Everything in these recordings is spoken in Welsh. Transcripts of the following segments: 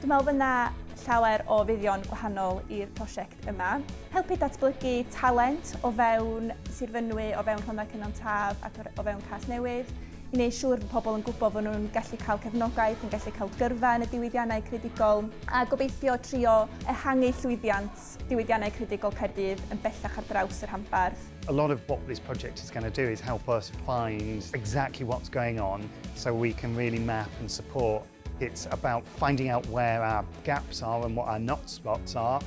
Dwi'n meddwl fy' 'na llawer o fuddion gwahanol i'r prosiect yma. Helpu datblygu talent o fewn Sir Fynwy, o fewn Rhondda Cynon Taf ac o fewn Casnewydd, i wneud siŵr bod pobl yn gwybod fod nhw'n gallu cael cefnogaeth, yn gallu cael gyrfa yn y diwydiannau creadigol, a gobeithio trio ehangu llwyddiant diwydiannau creadigol Caerdydd yn bellach ar draws y rhanbarth. A lot of what this project is going to do is help us find exactly what's going on so we can really map and support It's about finding out where our gaps are and what our not spots are,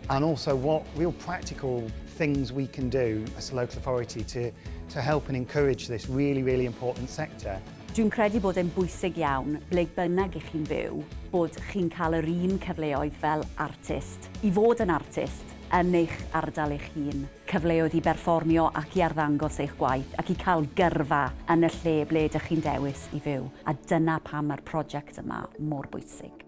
and also what real practical things we can do as a local authority to, to help and encourage this really, really important sector. Dwi'n credu bod e'n bwysig iawn, ble bynnag ych chi'n byw, bod chi'n cael yr un cyfleoedd fel artist, i fod yn artist yn eich ardal eich hun. cyfleoedd i berfformio ac i arddangos eich gwaith ac i cael gyrfa yn y lle ble ydych chi'n dewis i fyw, a dyna pam mae'r prosiect yma mor bwysig.